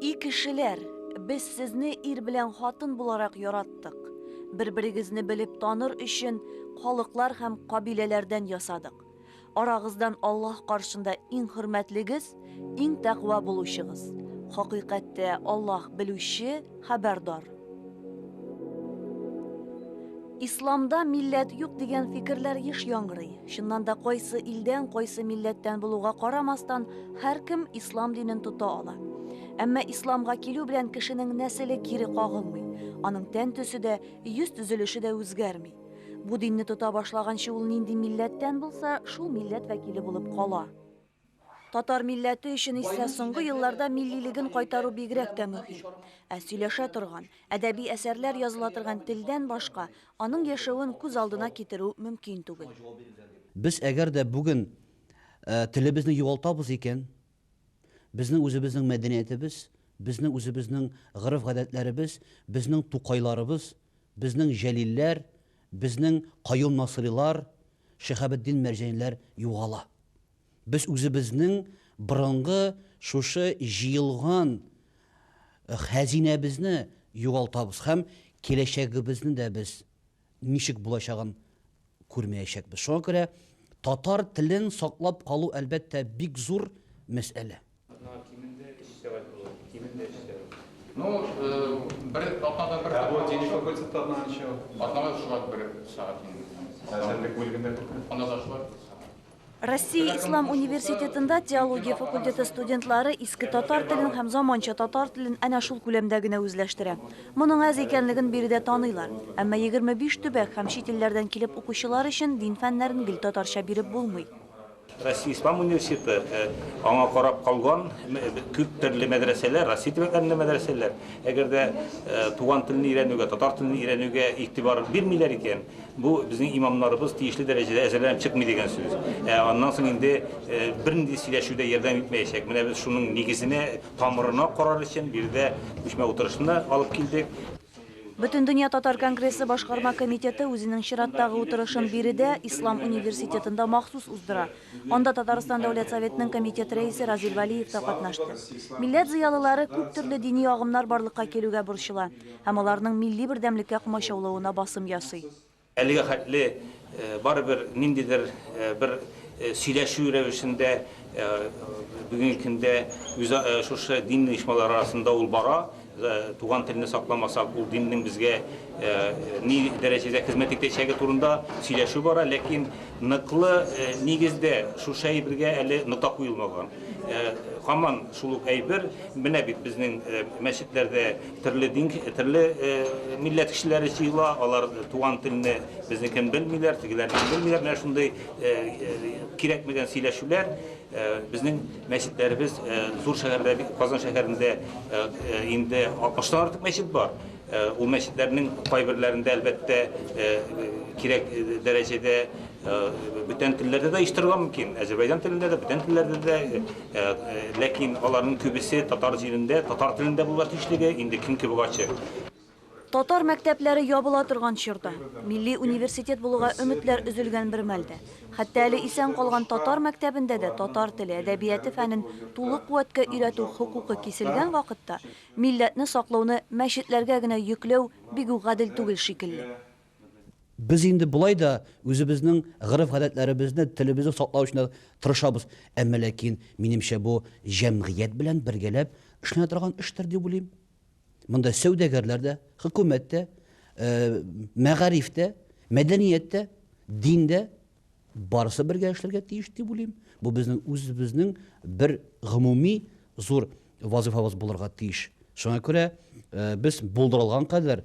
И кешеләр, без сезне ир белән хатын буларак яраттык. Бер-берегезне белеп таныр өчен халыклар һәм кабиләләрдән ясадык. Арагыздан Аллаһ каршында иң хөрмәтлегез, иң тәкъва булучыгыз. Хакыйкатьтә Аллаһ белүче, хәбәрдар. Исламда милләт юк дигән фикерләр еш яңгырый. Чыннан да кайсы илдән, кайсы милләттән булуга карамастан, һәркем ислам динен тота ала. Әмма исламга килү белән кешенең нәселе кире кагылмый, аның тән төсе дә, йөз төзелеше дә үзгәрми. Бу динне тота башлаганчы ул нинди милләттән булса, шул милләт вәкиле булып кала. Татар милләте өчен исә соңгы елларда миллилеген кайтару бигрәк тә мөһим. Ә сөйләшә торган, әдәби әсәрләр языла торган телдән башка аның яшәвен күз алдына китерү мөмкин түгел. Без әгәр дә бүген телебезне югалтабыз икән, безнең үзебезнең мәдәниятебез, безнең үзебезнең гореф-гадәтләребез, безнең Тукайларыбыз, безнең Җәлилләр, безнең Каюм Насыйрилар, Шиһабетдин Мәрҗәниләр югала. Без үзебезнең борынгы шушы җыелган хәзинәбезне югалтабыз һәм киләчәгебезне дә без ничек булачагын күрмәячәкбез. Шуңа күрә татар телен саклап калу, әлбәттә, бик зур мәсьәлә. Россия ислам университетында теология факультеты студентлары иске татар телен һәм заманча татар телен әнә шул күләмдә генә үзләштерә. Моның әз икәнлеген биредә таныйлар. Әмма 25 төбәк һәм чит илләрдән килеп укучылар өчен дин фәннәрен гел татарча биреп булмый. Россия Ислам университеты аңа карап калган күп төрле мәдрәсәләр, Россия төбәкләрендә мәдрәсәләр, әгәр дә туган телне өйрәнүгә, татар телен өйрәнүгә игътибар бирмиләр икән, бу безнең имамнарыбыз тиешле дәрәҗәдә әзерләнеп чыкмый дигән сүз. Ә аннан соң инде бернинди сөйләшү дә ярдәм итмәячәк. Менә без шуның нигезенә, тамырына карар өчен биредә күчмә утырышны алып килдек. Бөтендөнья татар конгрессы башкарма комитеты үзенең чираттагы утырышын биредә, Ислам университетында махсус уздыра. Анда Татарстан Дәүләт Советының комитет рәисе Разил Вәлиев та катнашты. Милләт зыялылары күп төрле дини агымнар барлыкка килүгә борчыла һәм аларның милли бердәмлеккә комачаулавына басым ясый. Әлегә хәтле барыбер ниндидер бер сөйләшү рәвешендә бүгенге көндә шушы дин оешмалары арасында ул бара. Туган телне сакламасак, ул диннең безгә ни дәрәҗәдә хезмәт итәчәге турында сөйләшү бара. Ләкин ныклы нигездә шушы әйбергә әле нота куелмаган. Һаман шул ук әйбер, менә бит безнең мәчетләрдә, Төрле дин, төрле милләт кешеләре җыела, алар туган телне безнекен белмиләр, тегеләрнекен белмиләр. Менә шундый кирәкмәгән сөйләшүләр безнең мәчетләребез зур шәһәрдә, Казан шәһәрендә инде 60 артык мәчет бар. Ул мәчетләрнең кайберләрендә әлбәттә кирәк дәрәҗәдә бүтән телләрдә дә оештырырга мөмкин. Азәрбайҗан телендә дә, бүтән телләрдә дә Ләкин аларның күбесе татар җирендә, татар телендә булырга тиешлеге инде көн кебек ачык. Татар мәктәпләре ябыла торган чорда, милли университет булуга өметләр өзелгән бер мәлдә, хәтта әле исән калган татар мәктәбендә дә татар теле, әдәбияте фәнен тулы куәткә өйрәтү хокукы киселгән вакытта милләтне саклауны мәчетләргә генә йөкләү бигүк гадел түгел шикелле. Без инде болай да үзебезнең гореф-гадәтләребезне, телебезне саклау өчен тырышабыз. Әмма ләкин, минемчә, бу җәмгыять белән бергәләп эшләнә торган эштер дип уйлыйм. Монда сәүдәгәрләр дә, хөкүмәт тә, мәгариф тә, мәдәният тә, дин дә, барысы бергә эшләргә тиеш дип уйлыйм. Бу безнең үзебезнең бер гомуми зур вазыйфабыз булырга тиеш. Шуңа күрә без булдырылган кадәр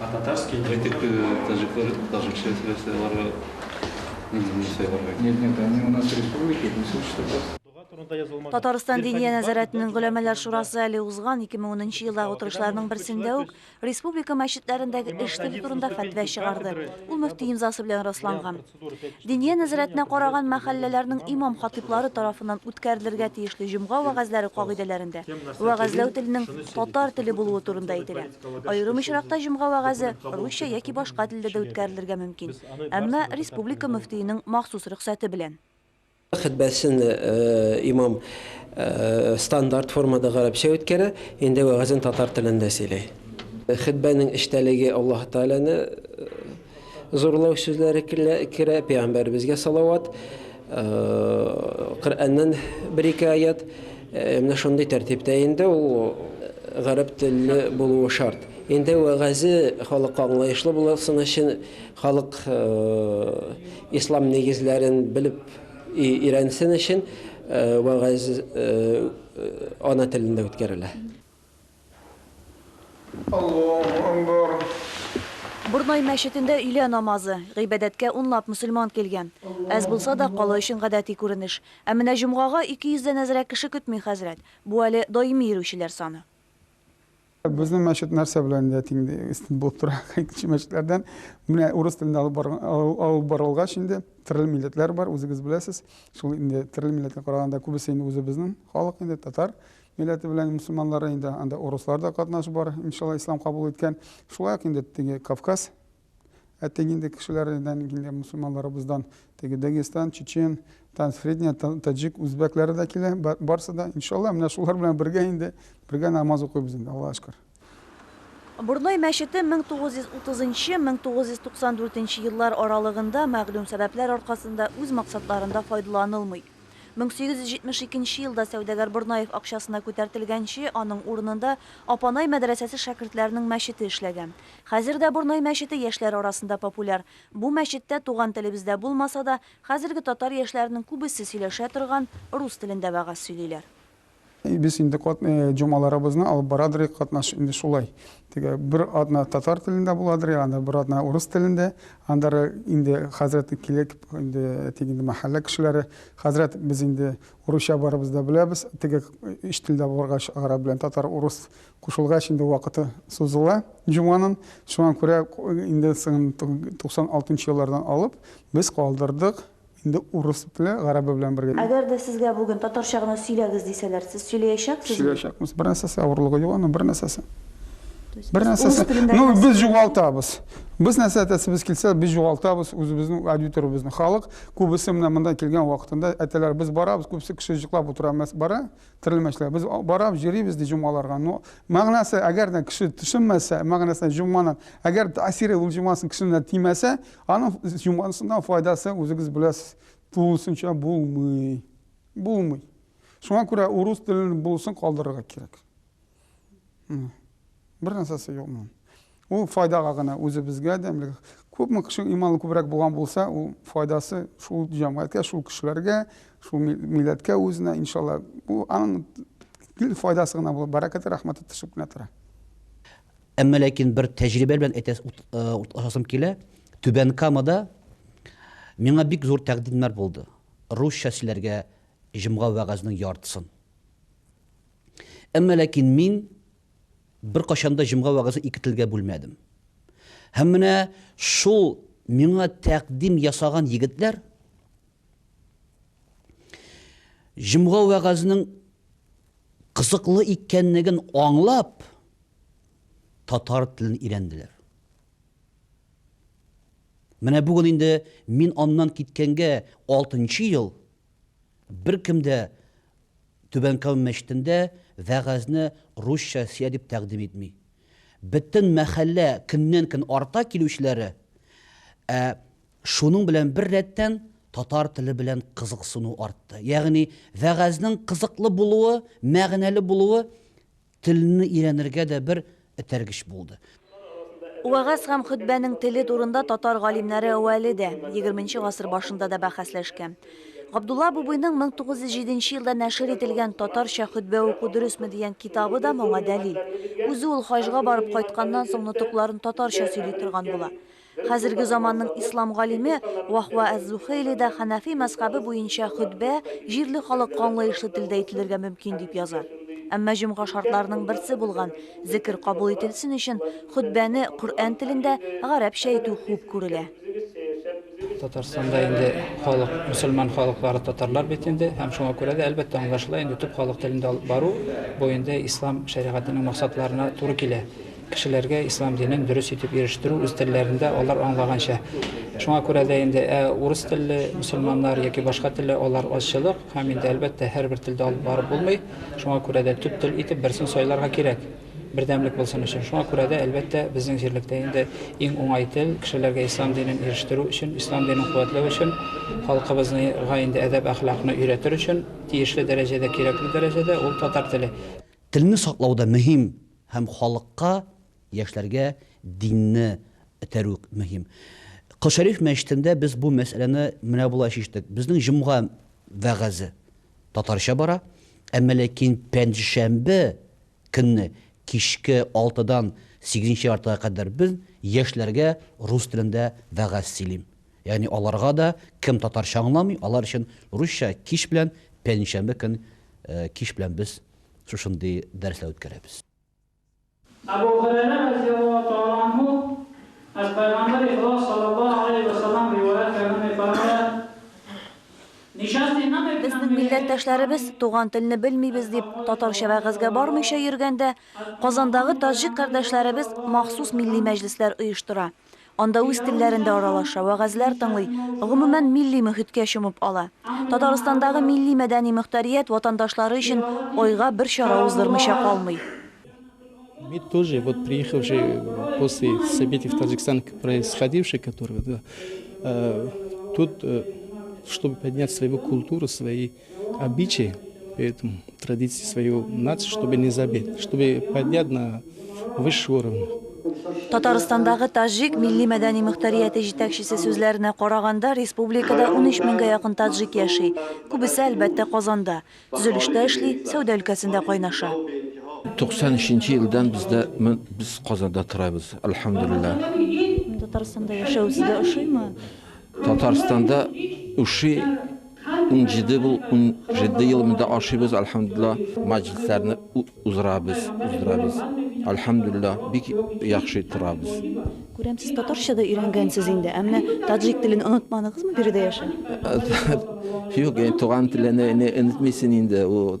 А татарский не можешь? Әйтик, таҗиклар таҗикча сөйләсә, аларга нинди дин сайларга кирәк? Нет, нет, они у нас республики, не слышат что ли? Татарстан Диния нәзарәтенең Голәмәләр шурасы әле узган 2010 елдагы утырышларның берсендә үк республика мәчетләрендәге эш теле турында фәтва чыгарды. Ул мөфти имзасы белән расланган. Диния нәзарәтенә караган мәхәлләләрнең имам-хатыйблары тарафыннан үткәрелергә тиешле җомга вәгазьләре кагыйдәләрендә вәгазьләү теленең татар теле булуы турында әйтелә. Аерым очракта җомга вәгазе русча яки башка телдә дә үткәрелергә мөмкин, әмма республика мөфтиенең махсус рөхсәте белән. Хөтбәсен имам стандарт формада гарәпчә үткәрә, инде вәгазен татар телендә сөйли. Хөтбәнең эчтәлеге Аллаһы Тәгаләне зурлау сүзләре керә, пәйгамбәребезгә салават, Коръәннән бер-ике аять, менә шундый тәртиптә инде ул гарәп телле булуы шарт. Инде вәгазе халыкка аңлаешлы булсын өчен, Халык ислам нигезләрен белеп өйрәнсен өчен вәгазь ана телендә үткәрелә. Аллаһу Әкбар. Борнай мәчетендә өйлә намазы. Гыйбадәткә унлап мөселман килгән. Әз булса да, кала өчен гадәти күренеш. Ә менә җомгага ике йөздән әзрәк кеше көтми хәзрәт. Бу әле даими йөрүчеләр саны. Безнең мәчет нәрсә белән дә тиң өстен булып тора. Икенче мәчетләрдән менә урыс телендә алып барган алып барылгач инде төрле милләтләр бар, үзегез беләсез. Шул инде төрле милләткә караганда күбесе инде үзебезнең халык инде татар милләте белән мусульманнары инде анда урыслар да катнашы бар, иншалла ислам кабул иткән. Шулай ук инде теге Кавказ Ә теге инде кешеләрдән, инде мусульманнарыбыздан, теге Дагестан, Чечен, Тансредня, Таджик, үзбәкләре дә килә, барсы да. Иншалла, менә шулар белән бергә инде, бергә намаз укыйбыз инде, Аллага шөкер. Борнай мәчете 1930-1994 еллар аралыгында мәгълүм сәбәпләр аркасында үз максатларында файдаланылмый. Мең сигез йөз җитмеш икенче елда сәүдәгәр Борнаев акчасына күтәртелгәнче, аның урынында Апанай мәдрәсәсе шәкертләренең мәчете эшләгән. Хәзер дә Борнай мәчете яшьләр арасында популяр. Бу мәчеттә туган телебездә булмаса да, хәзерге татар яшьләренең күбесе сөйләшә торган рус телендә вәгазь сөйлиләр. Без инде җомгаларыбызны алып барадыр, катнаш инде шулай. Теге бер атна татар телендә буладыр, анда бер атна урыс телендә. Анда инде хәзрәт килеп, инде әйтик инде мәхәллә кешеләре, хәзрәт без инде урысча барыбыз да беләбез. Теге өч телдә булгач, гарәп белән татар, урыс кушылгач инде вакыты сузыла җомганың. Шуңа күрә инде 96 нчы еллардан алып без калдырдык Инде урыс белән, гарәбе белән бергә. Әгәр дә сезгә бүген татарча гына сөйләгез дисәләр, сез сөйләячәксезме? Сөйләячәкбез. Бернәрсәсе авырлыгы юк аның, бернәрсәсе. Бернәрсәсе. Ну, без югалтабыз. Без нәрсә әтәсебез килсә, без югалтабыз үзебезнең аудиторыбызны. Халык күбесе менә монда килгән вакытында әтәләр без барабыз, күбесе кеше җыклап утыра, бара, терелмәчләр. Без бараб, җөрибез ди җомгаларга. Ну, мәгънәсе, әгәр дә кеше төшенмәсә, мәгънәсенә җомганың, әгәр тәэсире ул җомгасын кешенә тимәсә, Аның җомгансыннан файдасы, үзегез беләсез, тулысынча булмый. Булмый. Шуңа күрә урыс телен булсын калдырырга кирәк. Бер нәрсәсе юк моның. Ул файдага гына үзебезгә дә, күпме кеше иманы күбрәк булган булса, ул файдасы шул җәмгыятькә, шул кешеләргә, шул милләткә үзенә, иншалла. Бу аның файдасы гына булып, бәрәкәте, рәхмәте төшеп кенә тора. Әмма ләкин бер тәҗрибә белән әйтәс ут, урташасым килә. Түбән Камада миңа бик зур тәкъдимнәр булды. Русча сөйләргә җомга вәгазьнең яртысын. Әмма ләкин мин беркайчан да җомга вәгазе ике телгә бүлмәдем. Һәм менә шул миңа тәкъдим ясаган егетләр җомга вәгазьнең кызыклы икәнлеген аңлап, татар телен өйрәнделәр. Менә бүген инде мин аннан киткәнгә алтынчы ел беркем дә Түбән Кама мәчетендә вәгазьне русча сөя дип тәкъдим итми. Бөтен мәхәллә көннән-көн арта килүчеләре, ә шуның белән бер рәттән татар теле белән кызыксыну артты. Ягъни вәгазьнең кызыклы булуы, мәгънәле булуы Телне өйрәнергә дә бер этәргеч булды. Вәгазь һәм хөтбәнең теле турында татар галимнәре әүвәле дә, егерменче гасыр башында да бәхәсләшкән. Габдулла Абубыйның 1907 нче елда нәшер ителгән Татарча хөтбә уку дөресме дигән китабы да моңа дәлил. Үзе ул хаҗга барып кайтканнан соң нотыкларын татарча сөйли торган була. Хәзерге заманның ислам галиме Ваһва әз-Зухейли дә хәнәфи мәзхәбе буенча хөтбә җирле халыкка аңлаешлы телдә ителергә мөмкин дип яза. Әмма җомга шартларының берсе булган зекер кабул ителсен өчен хөтбәне Коръән телендә, гарәпчә әйтү хуп күрелә. Татарстанда инде халык, мөселман халыклары татарлар бит инде һәм шуңа күрә дә, әлбәттә, аңлашыла инде, төп халык телендә алып бару, бу инде ислам шәригатенең максатларына туры килә. Кешеләргә ислам динен дөрес итеп ирештерү, үз телләрендә, алар аңлаганча. Шуңа күрә дә инде, ә урыс телле мөселманнар яки башка телле, алар азчылык, һәм инде, әлбәттә, һәрбер телдә алып барып булмый. Шуңа күрә дә төп тел итеп берсен сайларга кирәк, бердәмлек булсын өчен. Шуңа күрә дә, әлбәттә, безнең җирлектә инде иң уңай тел, кешеләргә ислам динен ирештерү өчен, ислам динен куәтләү өчен, халкыбызныга инде әдәп-әхлакны өйрәтер өчен тиешле дәрәҗәдә, кирәкле дәрәҗәдә, ул татар теле. Телне саклау да мөһим, Һәм халыкка, яшьләргә динне этәрү мөһим. Кол Шәриф мәчетендә без бу мәсьәләне менә болай чиштек. Безнең җомга вәгазе татарча бара, әмма ләкин пәнҗешәмбе көнне кичке алтыдан сигезенче яртыга кадәр без яшьләргә рус телендә вәгазь сөйлим. Ягъни аларга да, кем татарча аңламый, алар өчен русча кич белән, пәнҗешәмбе көн кич белән без Шушындый дәресләр үткәрәбез. Әбү Һүрәйрә разыяллаһу тәгалә анһу, Аз Пәйгамбәр ихлас салләллаһу галәйһи вә сәлләм риваять кәгәннәй караганда, ничәсенә дә Безнең милләттәшләребез, туган телне белмибез дип, татарча вәгазьгә бармыйча йөргәндә, Казандагы таҗик кардәшләребез махсус милли мәҗлесләр оештыра. Анда үз телләрендә аралаша, вәгазьләр тыңлый, гомумән, милли мөхиткә чумып ала. Татарстандагы милли-мәдәни мөхтәрият ватандашлары өчен айга бер чара уздырмыйча калмый. Мы тоже, вот приехавшие после событий в Таджикистане происходивших, которые, да, э, тут, э, чтобы поднять свою культуру, свои обычаи, поэтому традиции свою нацию, чтобы не забыть, чтобы поднять на высший уровень. Татарстандагы таҗик милли мәдәни мөхтәрияте җитәкчесе сүзләренә караганда, республикада 13 меңгә якын таджик яши. Күбесе, әлбәттә, Казанда. Төзелештә эшли, сәүдә өлкәсендә кайнаша. 93 елдан бездә без Казанда торабыз, альхамдулилла. Татарстанда яшәү сезгә ошыймы? Татарстанда ошый, Унҗиде бу, унҗиде ел монда ашыйбыз, альхамдулла, мәҗлесләрне уздырабыз, уздырабыз. Альхамдулла, бик яхшы торабыз. Күрәм, сез татарча да өйрәнгәнсез инде, әмма таджик телен онытмадыгызмы биредә яшәп? Юк, туган телеңне онытмыйсың инде, ул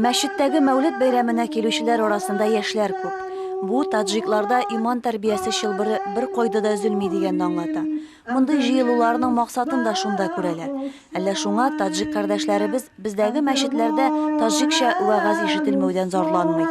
Мәчеттәге Мәүлет бәйрәменә килүчеләр арасында яшьләр күп. Бу таджикларда иман тәрбиясе чылбыры бер кайда да өзелми дигәнне аңлата. Мондый җыелуларның максатын да шунда күрәләр. Әллә шуңа таджик кардәшләребез бездәге мәчетләрдә таджикча вәгазь ишетелмәүдән зарланмый.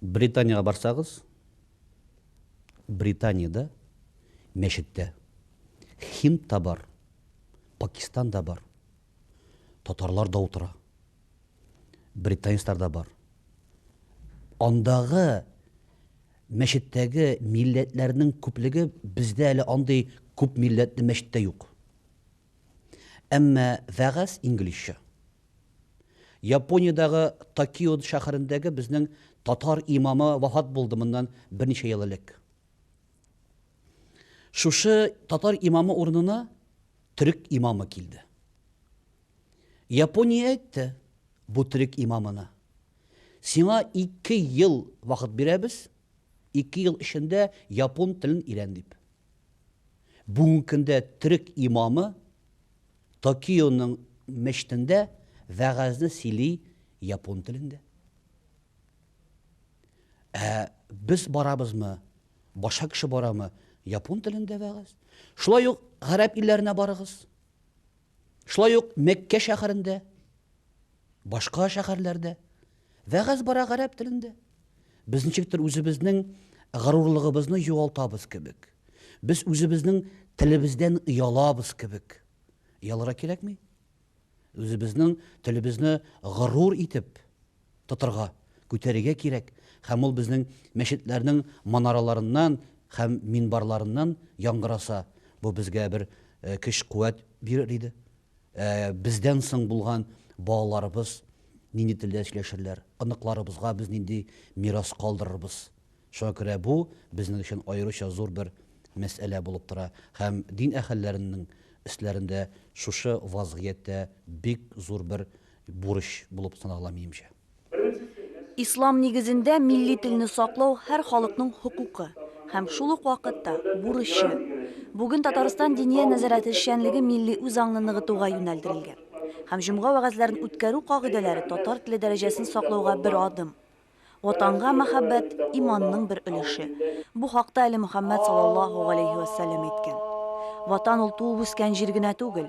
Британиягә барсагыз, Британиядә мәчеттә һинд та бар, пакистан да бар, татарлар да утыра, британецлар да бар. Андагы мәчеттәге милләтләрнең күплеге бездә әле андый күп милләтле мәчеттә юк. Әмма вәгазь инглизчә. Япониядәге Токио шәһәрендәге безнең татар имамы вафат булды моннан берничә ел элек. Шушы татар имамы урынына төрек имамы килде. Япония әйтте бу төрек имамына. Сиңа ике ел вакыт бирәбез, ике ел эчендә япон телен өйрән дип. Бүгенге көндә төрек имамы Токионың мечтендә вәгазьне сөйли япон телендә. Ә без барабызмы, башка кеше барамы, япон телендә вәгазь. Шулай ук гарәп илләренә барыгыз. Шулай ук Мәккә шәһәрендә, башка шәһәрләрдә Вәгазь бара гарәп телендә. Без ничектер үзебезнең горурлыгыбызны югалтабыз кебек. Без үзебезнең телебездән оялабыз кебек. Оялырга кирәкми. Үзебезнең телебезне горур итеп тотырга, күтәрергә кирәк. Һәм ул безнең мәчетләрнең манараларыннан һәм минбарларыннан яңгыраса, бу безгә бер көч-куәт бирер иде. Ә бездән соң булган балаларыбыз нинди телдә сөйләшерләр? Оныкларыбызга без нинди мирас калдырырбыз? Шуңа күрә бу безнең өчен аеруча зур бер мәсьәлә булып тора. Һәм дин әһелләренең өсләрендә шушы вазгыять тә бик зур бер бурыч булып санала, минемчә. Ислам нигезендә милли телне саклау һәр халыкның хокукы һәм шул ук вакытта бурычы. Бүген Татарстан Диния нәзарәте эшчәнлеге милли үзаңны ныгытуга юнәлдерелгән. Һәм җомга вәгазьләрен үткәрү кагыйдәләре татар теле дәрәҗәсен саклауга бер адым. Ватанга мәхәббәт, иманның бер өлеше. Бу хакта әле Мөхәммәд салаллаһу галәйһи вә сәлләм әйткән. Ватан ул туып үскән җир генә түгел,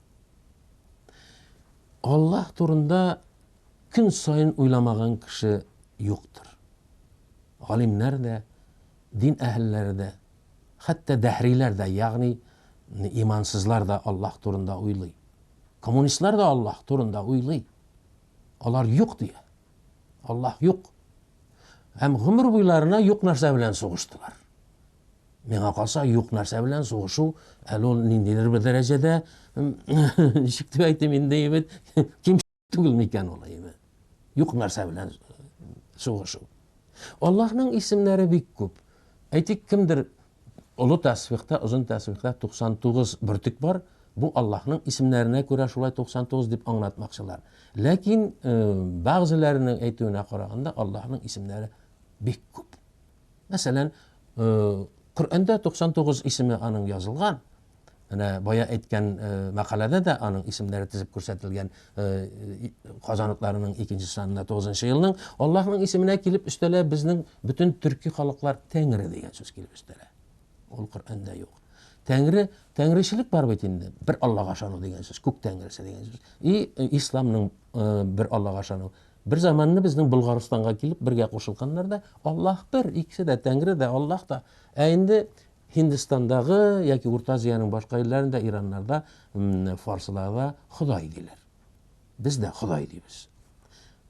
Аллаһ турында көн саен уйламаган кеше юктыр. Галимнәр дә, дин әһелләре дә, хәтта дәһриләр дә, ягъни имансызлар да Аллаһ турында уйлый. Коммунистлар да Аллаһ турында уйлый. Алар юк дия. Аллаһ юк. Һәм гомер буйларына юк нәрсә белән сугыштылар. Миңа калса, юк нәрсә белән сугышу, әле ул ниндидер бер дәрәҗәдә, ничек дип әйтим инде, әйбәт, ким түгел микән ул, әйбәт. Юк нәрсә белән сугышу. Аллаһның исемнәре бик күп. Әйтик, кемдер олы тәсбихта, озын тәсбихта 99 бөртек бар, бу Аллаһның исемнәренә күрә шулай 99 дип аңлатмакчылар. Ләкин э, бәгъзеләренең әйтүенә караганда Аллаһның исемнәре бик күп. Мәсәлән, Коръәндә 99 исеме аның язылган. Менә бая әйткән мәкаләдә дә аның исемнәре тезеп күрсәтелгән. Казаныкларының икенче санына 9 елның Аллаһның исеменә килеп өстәлә безнең бөтен төрки халыклар Тәңре дигән сүз килеп өстәлә. Ул Коръәндә юк. Тәңре, тәңречелек бар бит инде. Бер Аллага ышану дигән сүз, күк тәңресе дигән сүз. И исламның бер Аллага ышану. Бер заманны безнең Болгарстанга килеп бергә кушылганнар да, Аллаһ бер, икесе дә, Тәңре дә, Аллаһ та. Ә инде Һиндстандагы яки Урта Азиянең башка илләрендә, ираннарда, фарсларда Ходай диләр. Без дә Ходай дибез.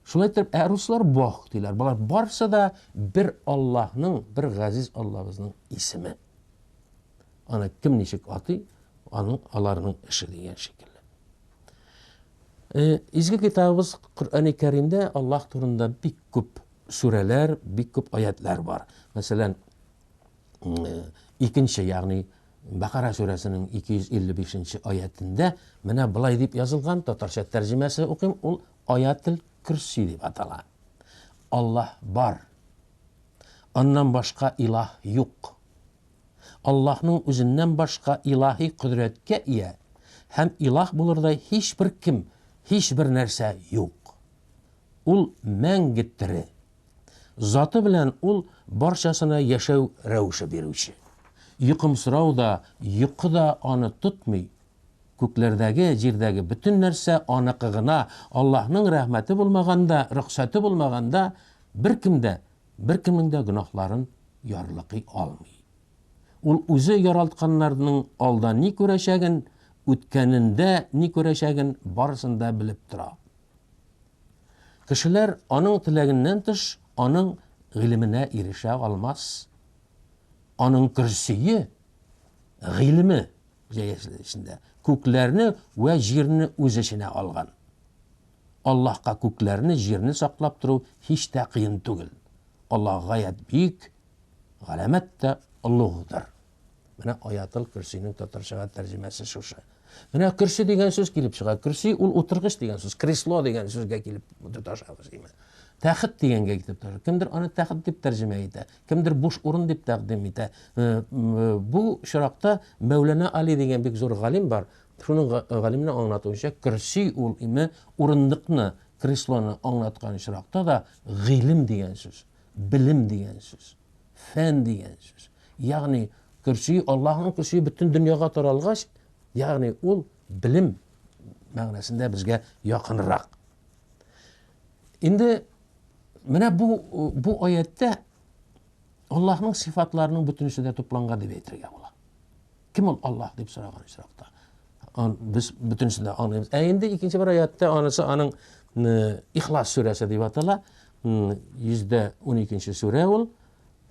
Шулай итеп, ә руслар Бог диләр. Болар барсы да бер Аллаһның, бер газиз Аллабызның исеме. Аны кем ничек атый, аның аларның эше дигән шикелле. Изге Китабыбыз Коръәни Кәримдә Аллаһ турында бик күп сүрәләр, бик күп аятьләр бар. Мәсәлән, икенче, ягъни Бакара сүрәсенең 255 нче аятендә менә былай дип язылган, татарча тәрҗемәсе укыйм, ул Аятел Көрси дип атала. Аллаһ бар. Аннан башка илаһ юк. Аллаһның үзеннән башка илаһи кодрәткә ия һәм илаһ булырдай һичбер кем, һичбер нәрсә юк. Ул мәңге тере. Заты белән ул барчасына яшәү рәвеше бирүче. Йокымсырау да, йокы да аны тотмый. Күкләрдәге, җирдәге бөтен нәрсә аныкы гына, Аллаһның рәхмәте булмаганда, рөхсәте булмаганда, беркем дә беркемнең дә гөнаһларын ярлыкый алмый. Ул үзе яралтканнарның алда ни күрәчәген, үткәнендә ни күрәчәген барысын да белеп тора. Кешеләр аның теләгеннән тыш аның гыйлеменә ирешә алмас. Аның көрсие, гыйлеме җәясендә күкләрне вә җирне үз эченә алган. Аллаһка күкләрне, җирне саклап тору һич тә кыен түгел. Аллаһ гаять бөек, галәмәт тә олугдыр. Менә Аятыл көрсинең татарчага тәрҗемәсе шушы. Менә көрси дигән сүз килеп чыга. Көрси ул утыргыч дигән сүз, кресло дигән сүзгә килеп тоташабыз, диме? Тәхет дигәнгә китеп тора. Кемдер аны тәхет дип тәрҗемә итә, кемдер буш урын дип тәкъдим итә. Э, э, бу чиракта Мәүлана Али дигән бик зур галим бар. Шуның галимнең аңлатуынча, көрси ул име урындыкны, креслоны аңлаткан очракта да гыйлем дигән сүз, белем дигән сүз, фән дигән сүз. Ягъни көрси Аллаһның көрси бөтен дөньяга таралгач, ягъни ул белем мәгънәсендә безгә якынрак. Инде менә бу бу аяттә Аллаһның сифатларының бөтенесе дә тупланган дип әйтергә була. Кем ул Аллаһ дип сораган очракта? Без бөтенесен дә аңлыйбыз. Ә инде икенче бер аятта анысы аның Ихлас сүрәсе дип атала. 112-нче сүрә ул.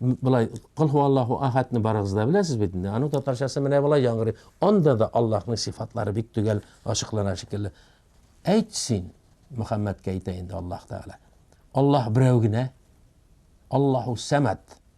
Былай Кул хуаллаху ахадны барыгыз да беләсез бит инде. Аның татарчасы менә былай яңгырый. Анда да Аллаһның сифатлары бик төгәл ачыклана шикелле. Әйт син, Мөхәммәдкә әйтә инде Аллаһ Тәгалә. Аллаһ берәү генә. Аллаһу Самад.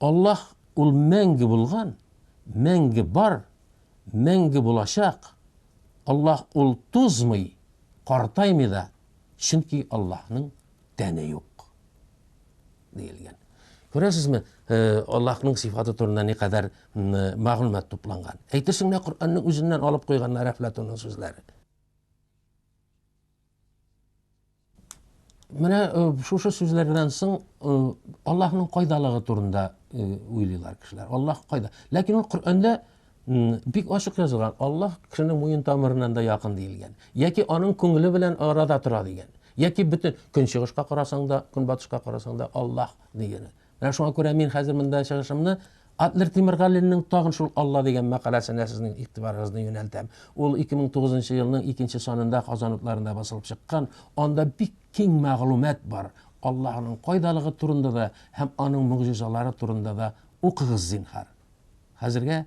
Аллаһ ул мәңге булган, мәңге бар, мәңге булачак. Аллаһ ул тозмый, картаймый да, чөнки Аллаһның тәне юк. Диелгән. Күрәсезме, э, Аллаһның сифаты турында ни кадәр э, мәгълүмат тупланган. Әйтерсең лә Коръәннең үзеннән алып куйганнар Әфлатунның сүзләре. Менә э, шушы сүзләрдән соң э, Аллаһның кайдалыгы турында э, уйлыйлар кешеләр. Аллаһ кайда? Ләкин ул Коръәндә бик ачык язылган. Аллаһ кешенең муен тамырыннан да якын диелгән. Яки аның күңеле белән арада тора дигән. Яки бөтен көнчыгышка карасаң да, көнбатышка карасаң да Аллаһ дигән. Менә шуңа күрә мин хәзер монда чыгышымны Адлер Тимергалинның тагын шул Алла дигән мәкаләсенә сезнең игътибарыгызны юнәлтәм. Ул 2009 елның икенче санында Казан утларында басылып чыккан, анда бик киң мәгълүмат бар. Аллаһының кайдалыгы турында да һәм аның могҗизалары турында да укыгыз, зинһар. Хәзергә